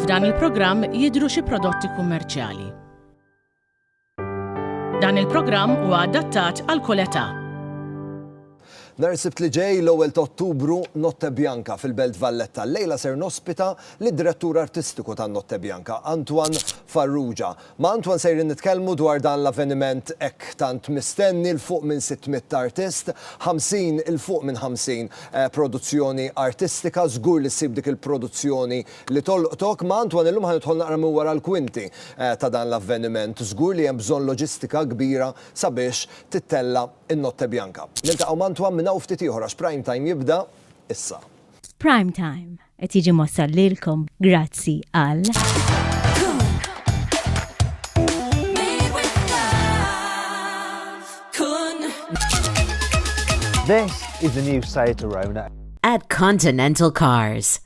F'dan il-programm jidhru xi prodotti kummerċjali. Dan il-programm huwa adattat għal kull età. Nhar is-Sibt li ġej l-ewwel ta' Ottubru Notte Bianca fil-Belt Valletta. Lejla ser nospita lid-Direttur Artistiku tan-Notte Bianca, Antoine Farrugia. Ma' Antoine sejrin nitkellmu dwar dan l-avveniment hekk tant mistenni, 'l fuq minn 600 artist, 50, 'l fuq minn 50, produzzjoni artistika, żgur li ssib dik il-produzzjoni li tolqtok. Ma' Antoine illum ħa nidħol naqra minn wara l-kwinti ta' dan l-avveniment. Żgur li hemm bżonn loġistika kbira sabiex tittella' n-Notte Bianca. Niltaqgħu m'Antoine minn hawn ftit ieħor għax Prime Time jibda issa. F'Prime Time, Qed jiġi mossal lilkom grazzi għal. This is the new Seat Arona. At Continental Cars.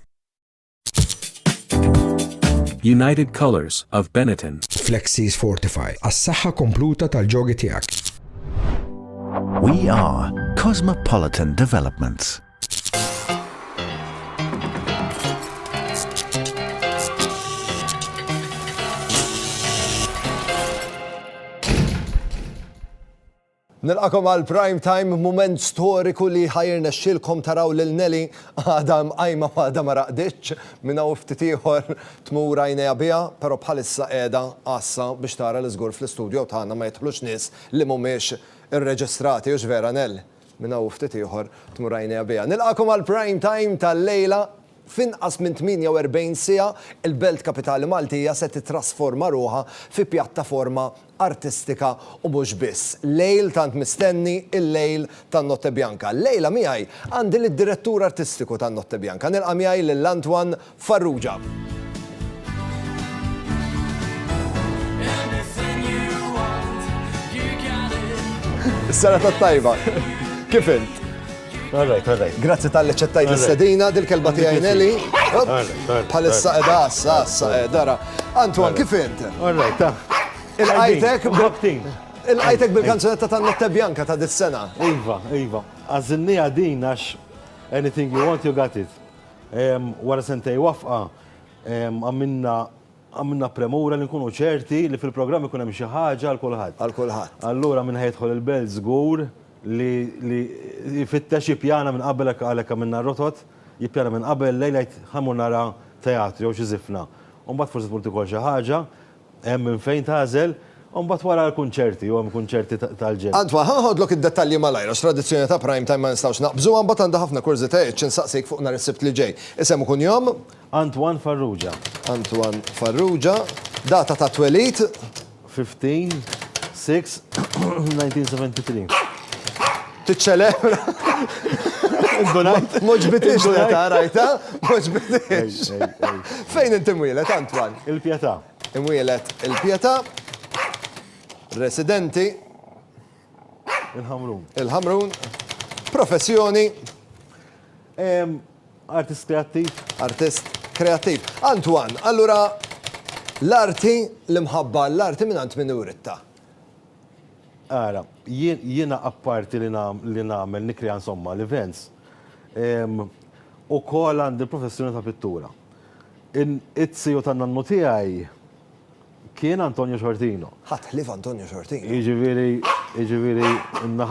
United Colors of Benetton. Flexis Fortify. As-saħħa kompluta tal-ġogi tiegħek. We are Cosmopolitan Developments. Nilqakom għal prime time moment storiku li ħajrna xilkom taraw lil Nelly għada mqajma għada ma raqditx minn hawn ftit ieħor tmur għajnejha biha, però bħalissa qiegħda għassa biex tara l iżgur fl-istudju tagħna ma jidħlux nies li mhumiex irreġistrati u vera Nell. Minn hawn u ftit ieħor tmur għajnejha biha. Nilqagħkom għall-prime time tal-lejla. F'inqas minn 48 siegħa, il-Belt Kapitali Maltija se tittrasforma ruħha fi pjattaforma artistika u mhux biss. Lejl tant mistenni, il-lejl tan-Notte Bianca. Llejla miegħi għandi lid-Direttur Artistiku tan-Notte Bianca. Nilqa' miegħi lil Antoine Farrugia. Is-sena tat-tajba. Kif int? All right, all right. Grazzi tal-li ċettajt l-istedina, dil-kelba tiegħi Nelly. Bħalissa edha, assa, assa, dara. Antoine, kif int? All right, ta. Il-qajtek il-qajtek bil-kanzunetta ta' Notte Bianca ta' dis-sena. Iva, iva. Għazinni għadin għax anything you want, you got it. Wara sentejn wafqa, għamilna għamilna premura li nkunu ċerti li fil-programm ikun hemm xi ħaġa għal kulħadd. Għal kulħadd. Allura min ħajdħol il-Belt żgur li li jfittex jippjana minn qabel hekk għalhekk għamilna r-rotot, jippjana minn qabel lejl jgħid ħa mmur nara teatru jew xi żifna. U mbagħad forsi tmur tikol xi ħaġa. Hemm minn fejn tagħżel, u mbagħad wara l-kunċerti, u hemm kunċerti tal-ġenn. Antoine, ħa noħodlok id-dettalji malajr għax tradizzjoni ta' Prime Time ma nistgħux naqbżuha, mbagħad għandi ħafna kurżitajiet xi nsaqsik fuq nhar is-Sibt li ġej. Isem u kunjom? Antoine Farrugia. Antoine Farrugia. Data ta' twelid? 15, 6, 1973. Tiċċelebra. Indunajt. Ma ġbitiex meta rajtha, ma ġbitiex. Fejn inti mwieled, Antwan? Il-Pjetà. Imwieled il-Pjetà. Residenti. Il-Ħamrun. Il-Ħamrun. Professjoni. Artist kreattiv. Artist kreattiv. Antwan, allura l-arti, l-imħabba l-arti minn għand min uritta? Ara, jiena apparti li nagħmel, nikkrea insomma, l-events, ukoll għandi l-professjoni ta' pittura. It-tiju tan-nannu tiegħi kien Antonio Sciortino. Ħadd ħlief Antonio Sciortino. Jiġifieri, jiġifieri,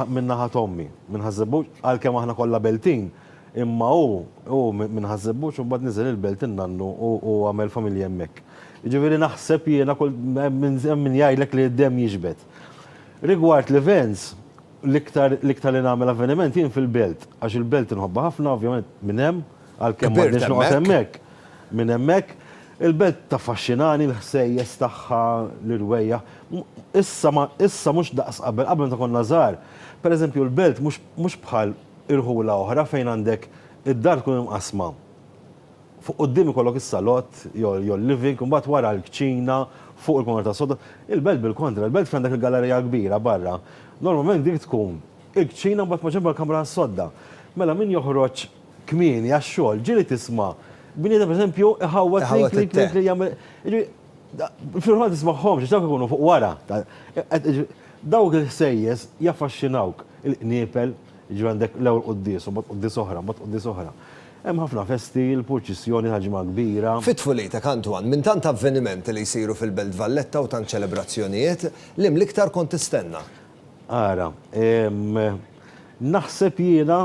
minn naħa t'ommi, minn Ħaż-Żebbuġ, għalkemm aħna kollha Beltin, Imma hu, hu minn Ħaż-Żebbuġ u mbagħad niżel il-belt in-nannu u għamel familja hemmhekk. Jiġifieri naħseb jiena kull, hemm min jgħidlek li d-demm jiġbed. Rigward l-events, l-iktar, l-iktar li nagħmel avveniment jien fil-belt, għax il-belt inħobbha ħafna, ovvjament minn hemm, għalkemm m'għadniex noqgħod hemmhekk, minn hemmhekk. Il-belt taffaxxinani, l-ħsejjes tagħha, l-irwejjaħ. Issa ma, issa mhux daqs qabel, qabel meta konna żgħar, pereżempju l-belt mhux, mhux bħal, Irħula oħra fejn għandek id-dar tkun imqassma. Fuq quddiem ikollok is-salott jew l-living, imbagħad wara l-kċina, fuq il-kmamar tas-sodda. Il-belt bil-kontra, il-belt fejn għandek il-gallerija kbira barra, normalment dik tkun il-kċina mbagħad maġenbha l-kamra tas-sodda. Mela min joħroġ kmieni għax-xogħol ġieli tisma' bniedem pereżempju iħawwad klink klink klink klink jagħmel, jiġifieri fil-verità ma tismagħhomx għax dawk ikunu fuq wara. Dawk il-ħsejjes jaffaxxinawk, il-qniepel. Jiġri għandek l-ewwel quddies, u mbagħad quddies oħra, mbagħad quddies oħra. Hemm ħafna festi, l-purċissjoni ta' ġimgħa kbira. Fi tfulitek, Antoine, minn tant avvenimenti li jsiru fil-Belt Valletta u tant ċelebrazzjonijiet, liem l-iktar kont tistenna? Ara, naħseb jiena,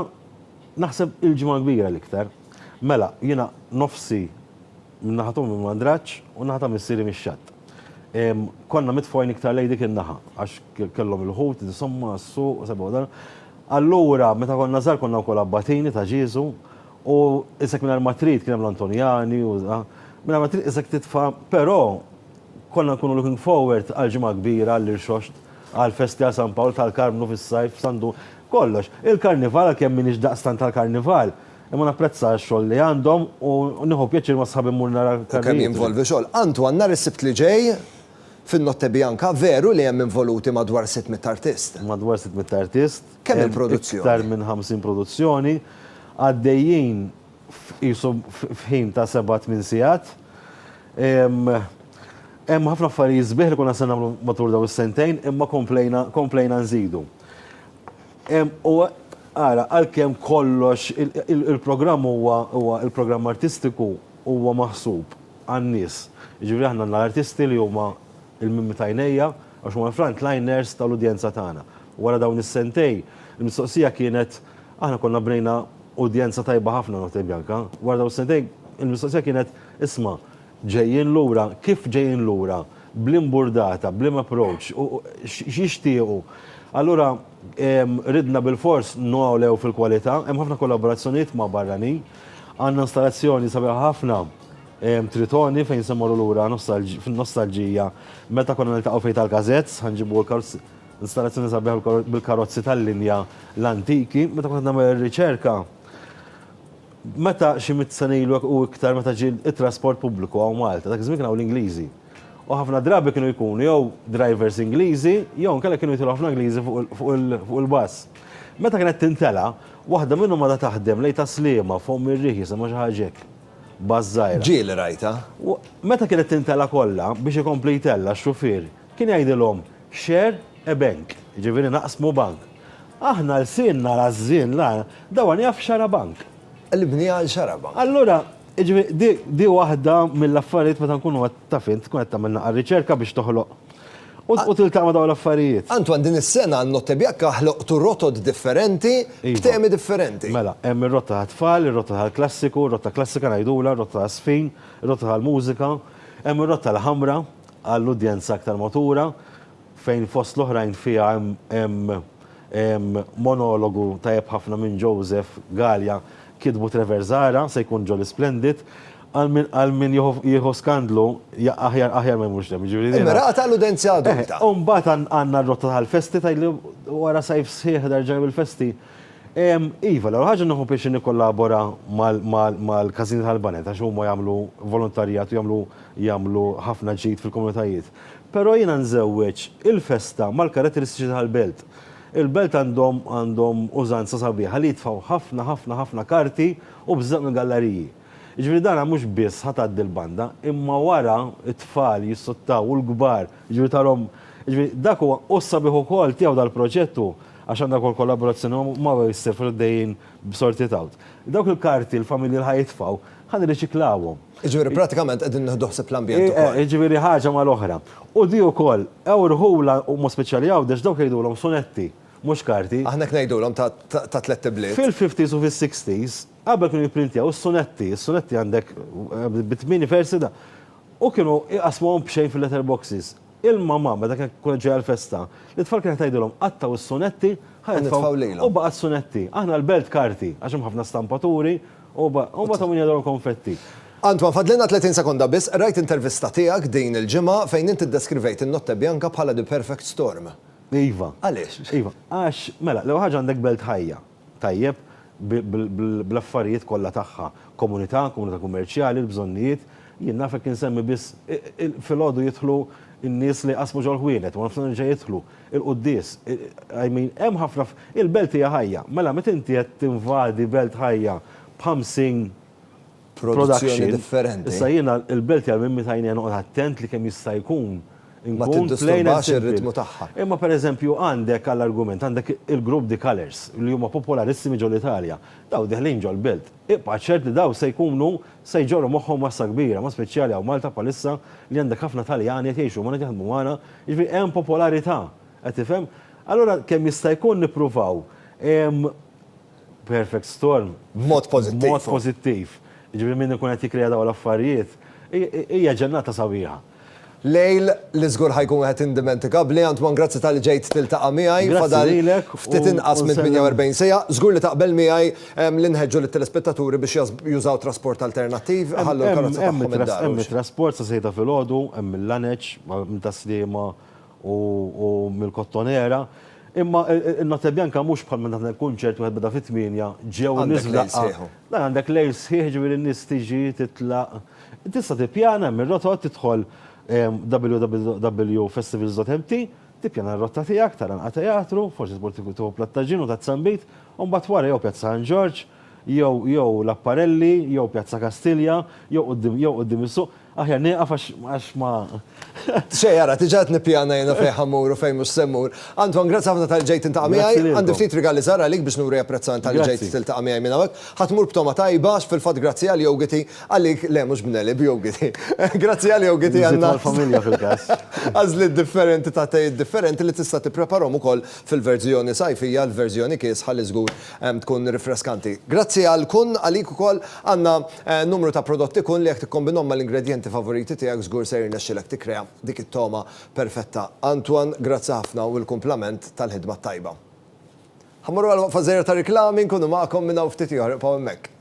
naħseb il-ġimgħa kbira l-iktar. Mela, jiena nofsi min-naħa t'ommi minn Mandraġġ u n-naħa ta' missieri mix-Xatt. Konna mitfgħin iktar lejn dik in-naħa għax kellhom il-ħut, insomma, s-suq, sebu dan. Allura, meta konna żgħar konna wkoll abbatini ta' Ġieżu u isek mingħajr ma trid kien hemm l-Antonjani u mingħajr ma trid isek titfa' però konna nkunu looking forward għall-Ġimgħa Kbira, għall-Irxoxt, għall-festi għal San Pawl, tal-Karmnu fis-sajf, San Dun, kollox. Il-Karnival għalkemm m'iniex daqstant tal-Karnival, Imma napprezza x-xogħol li għandhom u nieħu pjaċir ma' sħabi mmur nara karrijiet. U kemm jinvolvi xogħol. Antoine, nhar is-Sibt li ġej, fin-Notte Bianca, veru li hemm involuti madwar sitt mitt artist? Madwar sitt mitt artist. Kemm il-produzzjoni? Hemm iktar minn ħamsin produzzjoni. Għaddejjin qisu f'ħin ta' seba' tmien sigħat. Hemm ħafna affarijiet sbieħ li konna se nagħmlu matul dawn is-sentejn imma komplejna nżidu. U ara, għalkemm kollox il-programm huwa huwa il-programm artistiku huwa maħsub għan-nies. Jiġifieri aħna għandna l-artisti li huma l-mimmi t'għajnejja għax huma l-frontliners tal-udjenza tagħna. Wara dawn is-sentejn, il-mistoqsija kienet, aħna konna bnejna udjenza tajba ħafna Notte Bianca, wara dawn is-sentejn il-mistoqsija kienet, isma', Ġejjin lura, kif ġejjin lura, b'liema burdata, b'liema approach, u x'jixtiequ. Allura ridna bilfors ngħolew fil-kwalità, hemm ħafna kollaborazzjonijiet ma' barranin. Għandna installazzjoni sabiħa ħafna, Tritoni, fejn se mmorru lura fin-nostalġija meta konna niltaqgħu f'Għid tal-Gazettes, ħa nġibu l-karozzi, installazzjoni sabiħa bil-karozzi tal-linja l-antiki, meta kont qed nagħmel ir-riċerka, Meta xi mitt sena ilu u iktar meta ġie t-trasport pubbliku hawn Malta, dak iż-żmien kien hawn l-Ingliżi. U ħafna drabi kienu jkunu jew drivers Ingliżi jew inkella kienu jidħlu ħafna Ingliżi fuq il-bass. Meta kienet tintela', waħda minnhom għadha taħdem lejn Tas-Sliema, f'Omm ir-Riħ jisimha xi ħaġa hekk. Bass żgħira. Ġieli rajtha. Meta kienet tintela' kollha, biex ikompli jtella', x-xufier Kien jgħidilhom, Share a bank, jiġifieri naqsmu bank. Aħna lsienna rażżin la, da one jaf xara bank. Qlibni għal xara bank. Allura, jiġifieri di waħda mill-affarijiet meta nkunu qed taf int, tkun qed tagħmel naqra riċerka biex toħloq u tiltaqa' ma' dawn l-affarijiet. Antoine, din is-sena għan-Notte Biacca ħloqtu rotot differenti b'temi differenti. Iva. Mela, hemm ir-rotta tat-tfal, ir-rotta tal-klassiku, rotta klassika ngħidulha, rotta tas-sfin, rotta tal-mużika, hemm ir-rotta l-ħamra, għall-udjenza aktar matura, fejn fost l-oħrajn fiha hemm monologu tajjeb ħafna minn Joseph Galea kitbu Trevor Zahra, se jkun Jolly Splendid. Għal min jieħu skandlu, aħjar aħjar ma jmurx hemm, jiġifieri. Immirata għall-udenzja adulta. U mbagħad għandna r-rotta tal-festi tgħidli wara sajf sħiħ nerġa' il-festi. Iva, l-ewwel ħaġa nieħu pjaċir nikkollabora mal-każini tal-baned għax huma jagħmlu volontarjat u jagħmlu jagħmlu ħafna ġid fil-komunitajiet. Però jiena nżewweġ il-festa mal-karatteristiċi tal-belt. Il-belt għandhom għandhom użanza sabiħa li jitfgħu ħafna ħafna ħafna karti u bżaqq mill-gallariji. Jiġifieri dana mhux biss ħa tgħaddi l-banda, imma wara t-tfal jissuttaw u l-kbar, jiġifieri tarhom, jiġifieri dak huwa u s-sabiħ ukoll tiegħu dal-proġett hu Għax għandha wkoll kollaborazzjoni ma' Mother is Safer li għaddejjin b'Sort It Out. Dawk il-karti l-familji li ħa jitfgħu, ħa nirriċiklawhom. Jiġifieri pratikament qegħdin nieħdu ħsieb l-ambjent ukoll. Jiġifieri ħaġa mal-oħra. U di wkoll, ewrħulha u b'mod speċjali Għawdex dawk jgħidulhom sunetti, mhux karti. Aħna hekk ngħidulhom ta' tlett ibliet. Fil-fifties u fis-sixties, qabel kienu jipprintjaw is-sunetti, is-sunetti għandek bi tmien versi da. U kienu jqassmuhom b'xejn fil-letter boxes. Il-mamà, meta kienet kunet ġejja l-festa, lit-tfal kienet tgħidilhom, qattgħu s-sunetti, ħa nitfgħu, u baqgħet sunetti. Aħna l-belt karti, għax hemm ħafna stampaturi, u mbagħad hawn min jador il-konfetti. Antwan, fadlilna 30 sekonda biss, qrajt intervista tiegħek din il-ġimgħa fejn int iddeskrivejt in-Notte Bianca bħala the perfect storm. Iva. Għaliex? Iva, għax, mela, l-ewwel ħaġa għandek belt ħajja. tajjeb bl-affarijiet kollha tagħha, komunità, komunità kummerċjali, l-bżonnijiet, jien naf hekk insemmi biss, filgħodu jidħlu n-nies li jqassmu ġol-ħwienet, waranofsinhar jerġa' jidħlu, il-quddies, I mean, hemm ħafna, il-belt hija ħajja, mela meta inti qed tinvadi belt ħajja b' 50, produzzjoni differenti. Issa jiena il-belt tiegħi minn meta jiena noqgħod attent li kemm jista' jkun inkun plain and simple. Imma pereżempju għandek għall-argument għandek il-grupp The Colours li huma popolarissimi ġol Italja. Dawn deħlin ġol-belt. Ibqa' ċert li dawn se jkunu se jġorru moħħhom massa kbira, mod speċjali hawn Malta bħalissa li għandek ħafna Taljani qed jgħixu magħna qed jaħdmu magħna, jiġifieri hemm popolarità. Qed tifhem? Allura kemm jista' jkun nippruvaw perfect storm b'mod pożittiv, jiġifieri min ikun qed jikkrea dawn l-affarijiet, hija ġennata sabiħa. Lejl li żgur ħa jkun wieħed indimentigabbli, Antoine grazzi talli ġejt tiltaqa' miegħi, fadal ftit inqas minn 48 siegħa, żgur li taqbel miegħi li nħeġġu lit-telespettaturi biex jużaw trasport alternattiv, iħallu l-karozza tagħhom id-dar. Hemm it-trasport sa sejda filgħodu, hemm mill-Għaneġ, minn Tas-Sliema u mill-Kottonera, imma n-Notte Bianca mhux bħal meta tagħmel kunċert wieħed beda fit-tmienja, ġew in-nies f'daqqa. Għandek lejl sħiħ u. Dan għandek lejl sħiħ, ġifieri n-nies tiġi, titlaq. Tista' tippjana, hemm ir-rotot, tidħol www.festivals.mt, tippjana r-rotta tiegħek, tara nqa' teatru, forsi tmur tieħu platt ta' ġin u ta' zambit, u mbagħad wara jew Pjazza San Ġorġ, jew jew l-Apparelli, jew Pjazza Kastilja, jew quddiem jew quddiem is-suq. Aħjar nieqaf għax għax ma. Xejn ara, diġà qed nippjana jiena fejn ħa mmur u fejn mhux se mmur. Anton, grazzi ħafna talli ġejt tintaqa' miegħi. Grazzi lilkom. Għandi ftit rigali żgħar għalik biex nuri apprezzament talli ġejt Grazzi. tiltaqa' miegħi minn hawnhekk. Ħa tmur b'togħma tajba għax fil-fatt grazzi għal Yogiti, għalik, le mhux b'Nelly, b'Yogiti. Grazzi għal Yogiti għal Nżidu għall-familja fil-każ. għażliet differenti ta' tejiet differenti li tista' tippreparhom ukoll fil-verżjoni sajfija, l-verżjoni kiesħa li żgur Tkun rifreskanti. Grazzi għal kun, għalik ukoll għandna numru ta' prodotti kun li jekk tikkombinhom mal-ingredjenti favoriti tiegħek żgur se jirnexxilek tikkrea dik it-togħma perfetta. Antoine, grazzi ħafna u l-kumplament tal-ħidma t-tajba. Ħa mmorru għal waqfa żgħira ta' riklami, nkunu magħkom minn hawn ftit ieħor, ibqgħu hemmhekk.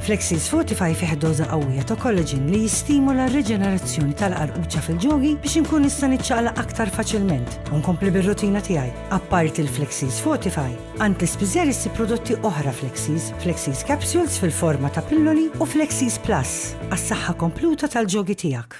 Flexis Fortify fih doża qawwija ta' collagen li jistimula r-riġenerazzjoni tal-qarquċċa fil-ġogi biex inkun nista' niċċaqla aktar faċilment u nkompli bir-rutina tiegħi. Apparti l-Flexis Fortify, għand l-ispiżer issib prodotti oħra Flexis, Flexis Capsules fil-forma ta' pilloli u Flexis Plus għas-saħħa kompluta tal-ġogi tiegħek.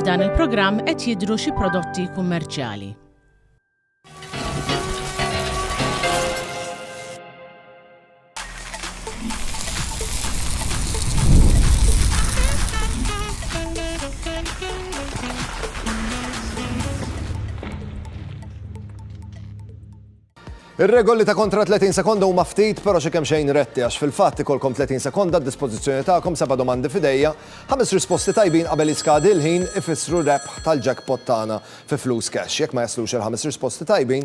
F'dan il-programm qed jidhru xi prodotti kummerċjali. Ir-regoli ta' kontra 30 sekonda huma ftit però xi kemm xejn retti għax fil-fatt ikolkom 30 sekonda d-dispożizzjoni tagħkom seba' domandi fidejja, ħames risposti tajbin qabel jiskadi l-ħin ifissru rebħ tal-jackpot tagħna fi flus cash. Jekk ma jaslux il-ħames risposti tajbin,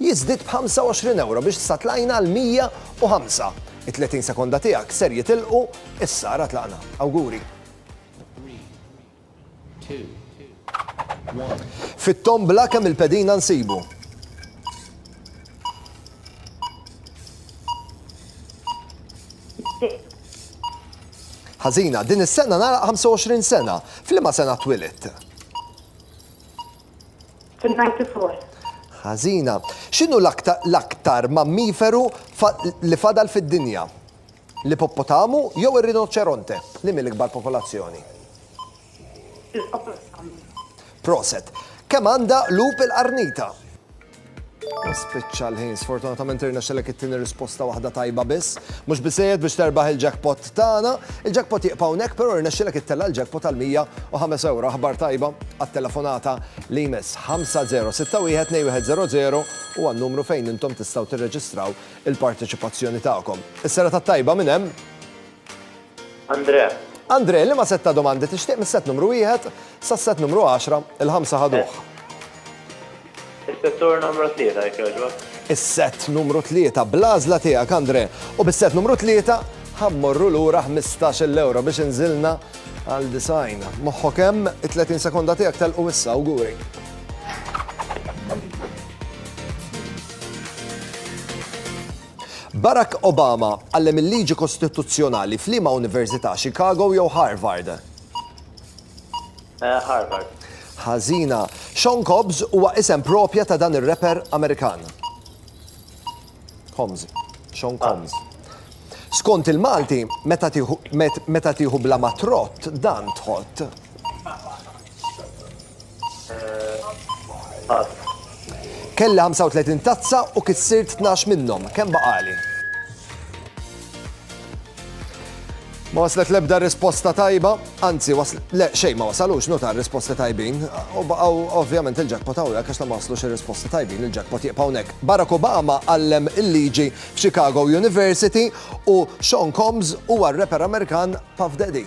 jiżdied b'25 ewro biex sa tlajna għal 105. It-30 sekonda tiegħek ser jitilqu issa ara tlaqna. Awguri. Fit-tombla kemm il-pedina nsibu? Ħażina, din is-sena nagħlaq 25 sena. F'liema sena twilit? Fin-94. Ħażina. X'inhu l-aktar mammiferu li fadal fid-dinja? L-ipoppotamu jew ir-rinoċeronte? Liema l-ikbar popolazzjoni? L-ipoppotamu. Proset. Kemm għandha qlub il-qarnita? Spiċċa l-ħin, sfortunatament irnexxelek it-tieni risposta waħda tajba biss. Mhux biżejjed biex terbaħ il-jackpot tagħna. Il-jackpot jibqa' hawnhekk, però irnexxilek ittella' l-jackpot għal 105 euro. Aħbar tajba għat-telefonata li jmiss 5061-2100 u għan-numru fejn intom tistgħu tirreġistraw il-parteċipazzjoni tagħkom. Is-sera tat-tajba minn hemm. Andre. Andre, liema sett ta' domandi tixtieq mis-sett numru wieħed sas-sett numru għaxra, il-ħamsa ħaduh. Is-settur numru tlieta jekk jogħġbok. Is-sett numru tlieta bl-għażla tiegħek Andre u bis-sett numru tlieta ħammorru lura 15-il ewro biex inżilna għal design. Moħħok hemm it-30 sekonda tiegħek telqu issa awguri. Barack Obama għallem il-liġi kostituzzjonali f'liema università, Chicago jew Harvard? Harvard. Ħażina. Sean Cobbs huwa isem propja ta' dan ir-rapper Amerikan. Combs. Sean Combs. Skont il-Malti, meta tieħu bla ma trott, dan tħott. Kelli 35 tazza u kissirt 12 minnhom. Kemm baqali? Ma waslet lebda risposta tajba, anzi waslet, le xej ma wasalux notar risposti tajbin, u baqaw ovvjament il-ġakpot għawja kax ta' ma waslux il-risposti tajbin il-ġakpot jibqaw nek. Barack Obama għallem il-liġi f'Chicago University u Sean Combs huwa r-rapper Amerikan Puff Daddy.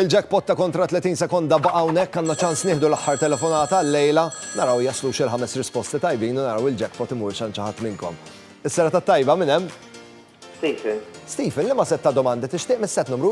Il-jackpot ta' kontra 30 sekonda baqa' hawnhekk, għandna ċans nieħdu l-aħħar telefonata għal-lejla, naraw jaslux il-ħames risposti tajbin u naraw il-jackpot imurx għand xi ħadd minnkom. Is-serata t-tajba, min hemm? Stephen. Stephen, liema sett ta' domandi tixtieq mis-sett numru?